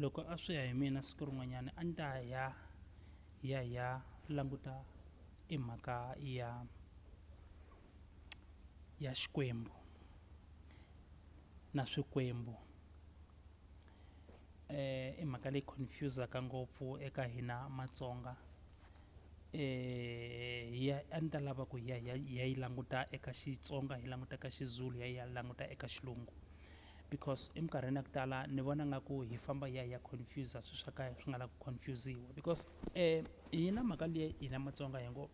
loko a swi ya hi mina siku rin'wanyana a ni ta ya ya ya languta i mhaka ya ya xikwembu na swikwembu i mhaka leyi confuse-aka ngopfu eka hina matsonga hi ya a ni ta lava ku hi ya hi ya hi ya yi languta eka xitsonga hi languta ka xizulu hi ya hi ya languta eka xilungu because eminkarhini ya ku tala ni vona nga ku hi famba hi ya hi ya confuser swilo swa ka swi nga la ku confusiwa because um hina mhaka leyi hina matsonga hi ngo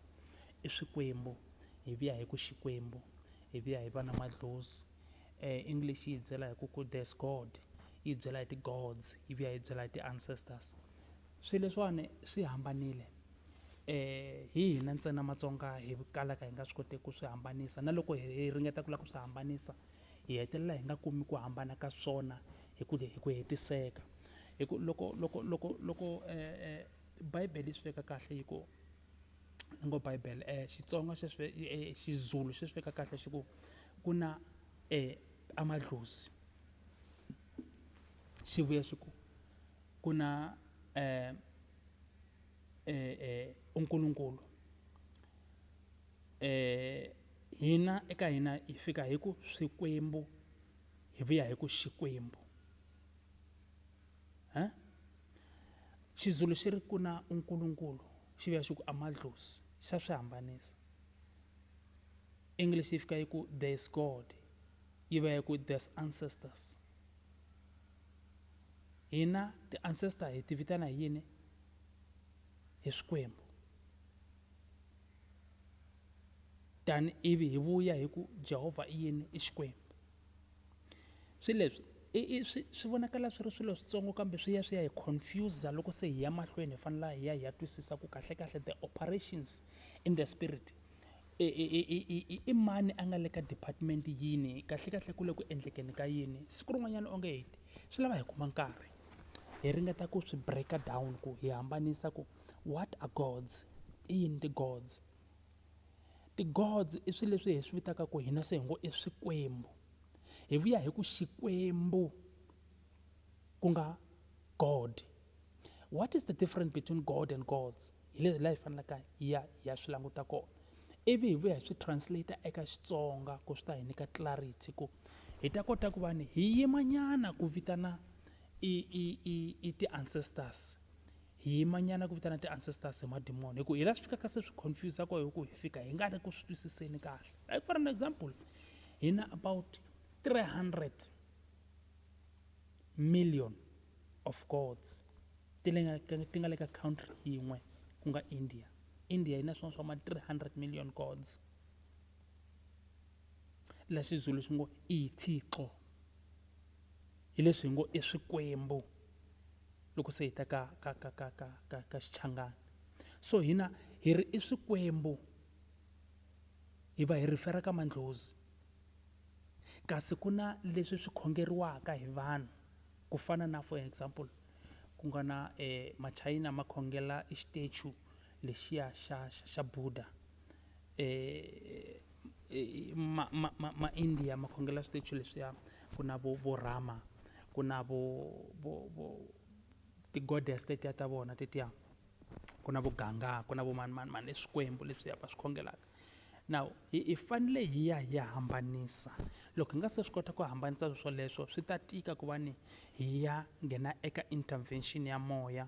i swikwembu hi vuya hi ku xikwembu hi vuya hi va na madlozi um english yi hi byela hi ku ku there is God yi hi byela hi ti-gods yi vuya yi hi byela hi ti-ancestors swilo leswiwani swi hambanile hi hina ntsena matsonga hi kalaka hi nga swi kotiki ku swi hambanisa na loko hi ringeta ku lava ku swi hambanisa hi hetelela hi nga kumi ku hambana ka swona hi ku hi ku hetiseka hi ku loko loko loko loko bible yi swi veka kahle yi ku ni ngo bible xitsonga sweswi xizulu xi swi veka kahle xi ku ku na amadlozi xi vuya xi ku ku na unkulunkulu . Hina eka hina hi fika hi ku Swikwembu hi vuya hi ku Xikwembu. He? Xizulu xi ri ku na unkulunkulu xi vuya xi ku amadlozi xa swi hambanisa. English yi fika yi ku there is God yi vuya yi ku there's ancestors. Hina ti ancestor hi ti vitana hi yini? Hi Swikwembu. tani ivi hi vuya hi ku Jehovha i yini? I Xikwembu. Swilo leswi i i swi swi vonakala swi ri swilo switsongo kambe swi ya swi ya hi confuse loko se hi ya mahlweni hi fanela hi ya hi ya twisisa ku kahlekahle the operations in the spirit i i i i i i i mani a nga le ka department yini kahlekahle ku le ku endlekeni ka yini siku rin'wanyana onge hi te swi lava hi kuma nkarhi hi ringeta ku swi break-a down ku hi hambanisa ku what are gods i yini ti-gods. Ti-gods i swilo leswi hi swi vitaka ku hina se hi ngo i swikwembu hi vuya hi ku xikwembu ku nga god what is the difference between god and gods hi leswi laha hi fanelaka hi ya hi ya swi languta kona ivi hi vuya hi swi translate eka xitsonga ku swi ta hi nyika clarity ku hi ta kota ku va ni hi yimanyana ku vitana i i i i ti-ancestors. hi yima nyana ku vitana ti-ancestors hi madimoni hi ku hi la swi fikaka se swi confuse ko hi ku hi fika hi nga ri ku swi twisiseni kahle like for an example hi na about 300 million of gods ti nga le ka country yin'we ku nga india india yi na swin'wana swa ma 300 million gods la xizulu xi ngo ithixo Hi leswi hi ngo i swikwembu loko se hi ta ka ka ka ka ka ka ka Xichangani. So hina hi ri i swikwembu hi va hi refer-a ka mandlhozi. Kasi ku na leswi swi khongeriwaka hi vanhu ku fana na for example ku nga na machayina ma khongela e statue lexiya xa xa xa Buddha ma ma ma ma India ma khongela switeji leswiya ku na vo vo Rama ku na vo vo vo ti-goddess tetiya ta vona tetiya ku na vo Ganga ku na vo mani mani mani i swikwembu leswiya va swi khongelaka now hi hi fanele hi ya hi ya hambanisa loko hi nga se swi kota ku hambanisa swilo swoleswo swi ta tika ku va ni hi ya nghena eka intervention ya moya.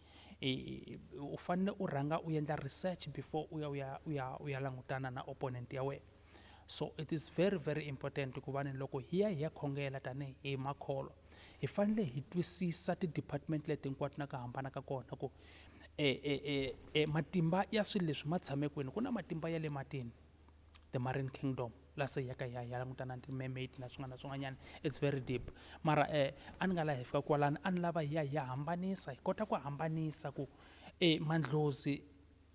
u fanele u rhanga u endla research before u ya u ya u ya u ya langutana na opponent ya wena so it is very very important ku va ni loko hi ya hi ya khongela tanihi hi makholwa hi fanele hi twisisa ti-department leti hinkwato na ku hambana ka kona ku e e e e matimba ya swilo leswi ma tshame kwini ku na matimba ya le matini the marine kingdom la se ya ka ya ya langutana ni mermaid na swin'wana na swin'wanyana it's very deep mara eh a ni nga laha hi fika kwalani a ni lava hi ya hi ya hambanisa hi kota ku hambanisa ku eh mandlozi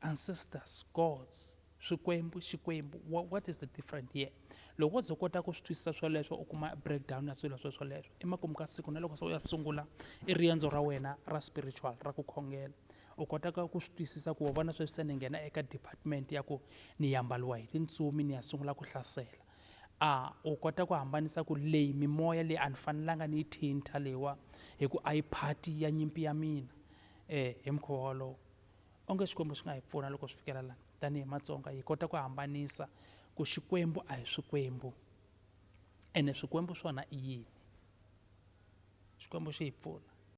ancestors gods swikwembu xikwembu wha- what is the different here loko wo ze u kota ku swi twisisa swoleswo u kuma breakdown ya swilo swo swoleswo emakumu ka siku na loko se u ya sungula i riendzo ra wena ra spiritual ra ku khongela U kotaka ku swi twisisa ku wa vona sweswi se ni nghena eka department ya ku ni yambaliwa hi tintsumi ni ya sungula ku hlasela a u kota ku hambanisa ku leyi mimoya leyi a ni fanelanga ni yi thinta leyiwa hi ku a yi phati ya nyimpi ya mina um hi mukhuva wolowo onge xikwembu xi nga hi pfuna loko swi fikela lana tanihi matsonga hi kota ku hambanisa ku xikwembu a hi swikwembu ene swikwembu swona i yini xikwembu xi hi pfuna.